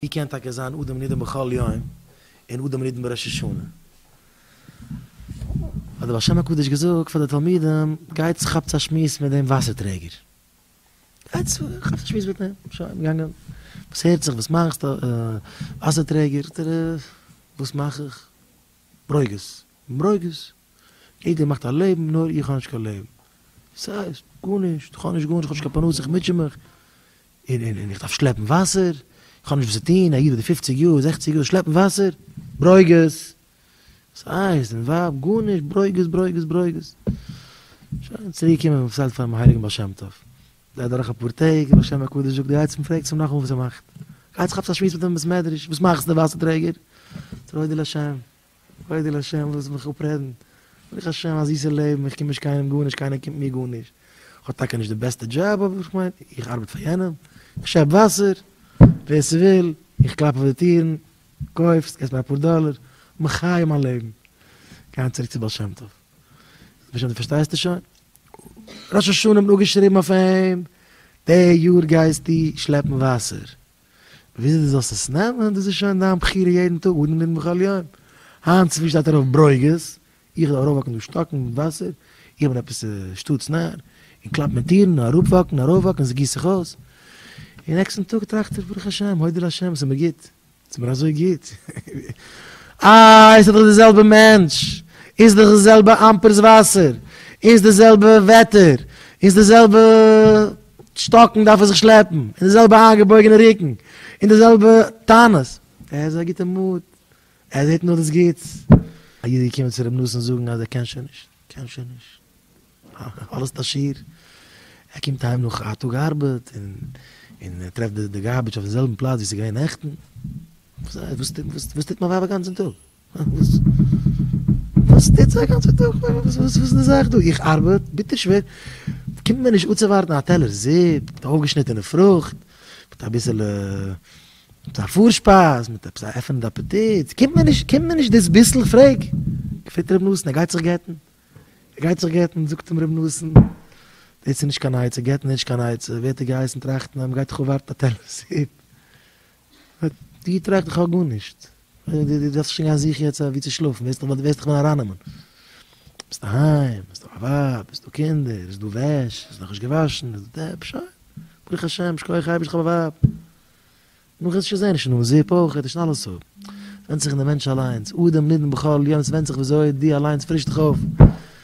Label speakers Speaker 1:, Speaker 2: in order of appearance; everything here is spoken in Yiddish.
Speaker 1: ווי קען טאקע זיין אדם נידון בכל יום און אדם נידון בראש השנה? האט דער בעל שם הקדוש געזאגט פאר די תלמידים, גייטס כאפטס א שמועס מיט דעם וואסער טרעגער. גייטס כאפטס א שמועס מיט אים. שוין, געגאנגען. וואס הערט זיך? וואס מאכסט? וואסער טרעגער? זאגט ער, וואס מאך איך? ברוגז. ברוגז? יעדער מאכט א לעבן נאר איך האב נישט קיין לעבן. וואס הייסט? גארנישט. איך האב נישט גארנישט, איך האב נישט קיין פרנסה, איך מוטשע מיך. און און און איך דארף שלעפן וואסער, איך האב נישט וואס צו טון, א איד אדער פופציג יאר, זעכציג יאר, שלעפן וואסער? ברוגז! וואס הייסט? און ווייב? גארנישט, ברוגז, ברוגז, ברוגז. שוין, צוריק קומען מיר פארציילט פארן מהריגן בעל שם טוב. גייט דורך אפאר טעג, דער בעל שם הקדוש זאגט, גייטס און פרעגטס אים נאכאמאל וואס ער מאכט. גייטס כאפטס א שמועס מיט אים אין בית מדרש, וואס מאכסטו, ווייסע טרעגער? צו להודיע לשם. כבוד אל השם, לאזט מיך אפרעדן, ברוך השם א זיסע לעבן, איך קום נישט קיינעם גארנישט, קיינער קומט מיר גארנישט, כ'האב טאקע נישט די בעסטע דזשאב, אבער איך מיין, איך ארבעט פאר יענעם, איך שעפ וואסער, ווער ס'וויל, איך קלאפ אויף די טירן, קויף, ס'קאסט מיר אפאר דאלער, מחיה מיין לעבן, גייען צוריק צו בעל שם טוב, בעל שם טוב פארשטייסטו שוין? ראש השנה האט מען אפגעשריבן אויף אים, די יאר גייסטו שלעפן וואסער. וויאזוי דו זאלסט עס נעמען, דאס איז שוין דיין בחירה יעדן טאג וואס דו נימ בכל יום. היינט צופרי שטייט ארויף ברוגז, איך זאל ארויפוואקן דא שטאקן מיט וואסער, איך בין עפעס א שטאטס נאר, און קלאפ מיט טירן, און אראפוואקן, ארויפוואקן, עס גיסט זיך אויס. און נעקסטן טאג טראכט ער, ברוך השם, הודו להשם, עס איז מיר גוט, עס איז מיר אזוי גוט. אה, עס איז דאך די זעלבע מענטש, און עס איז דאך די זעלבע אמפערס וואסער, און עס איז די זעלבע וועטער, און עס איז די זעלבע. שטאקן דארף ער זיך שלעפן, און די זעלבע איינגעבויגענע רוקן, און די זעלבע טענות, ער איז א גוטע מוט, ער זעט נאר דאס גוטס. א איד איז געקומען צו ר' נתן זאגן אז ער קען שוין נישט, ער קען שוין נישט, אלעס איז א שיעור, ער קומט אהיים נאך א טאג ארבעט, און ער טרעפט די גארביטש אויפן זעלבן פלאץ ווי ס'איז געווען נעכטן, וואס טוט מיין ווייב אגאנצן טאג? וואס טוט זיך אגאנצע טאג? וואס איז די זאך דא? איך ארבעט ביטער שווער, קומט מיר נישט אנצואווארטן א טעלער זופ מיט אויפגעשניטענע פרוכט, מיט אביסעלע א פארשפייז, מיט עפעס א עפענענדע אפעטיט, קומט מיר נישט, קומט מיר נישט דאס ביסל, פרעג, געפרעגט ר' נתן, ער גייט זיך גט'ן, ער גייט זיך גט'ן, זאגט אים ר' נתן, דאס איז נישט קיין עצה, גט'ן איז נישט קיין עצה, ווערט ער געהייסן טראכטן אז מ'גייט דאך אנווארטן א טעלער זופ. דו טראכסט בכלל גארנישט, דו דארפסט שוין גיין זוכן יעצט וואו צו שלאפן, ווער וועט דיך ווען ארייננעמען? ביסט א היים, ביסט א ווייב, ביסט דא קינדער, איז דא וועש, איז נאכנישט געוואשן, איז דא דעפ, שוין, ברוך השם, שכוח אייבערשט איך האב א ווייב, נאך איז שוין זען נישט נאר זופ אויך, איז שוין אלעס אויף, ווענדט זיך אין די מענטש אליינס, אדם נידון בכל יום, ס'ווענדט זיך ווי אזוי דו אליינס פרישסט דיך אויף,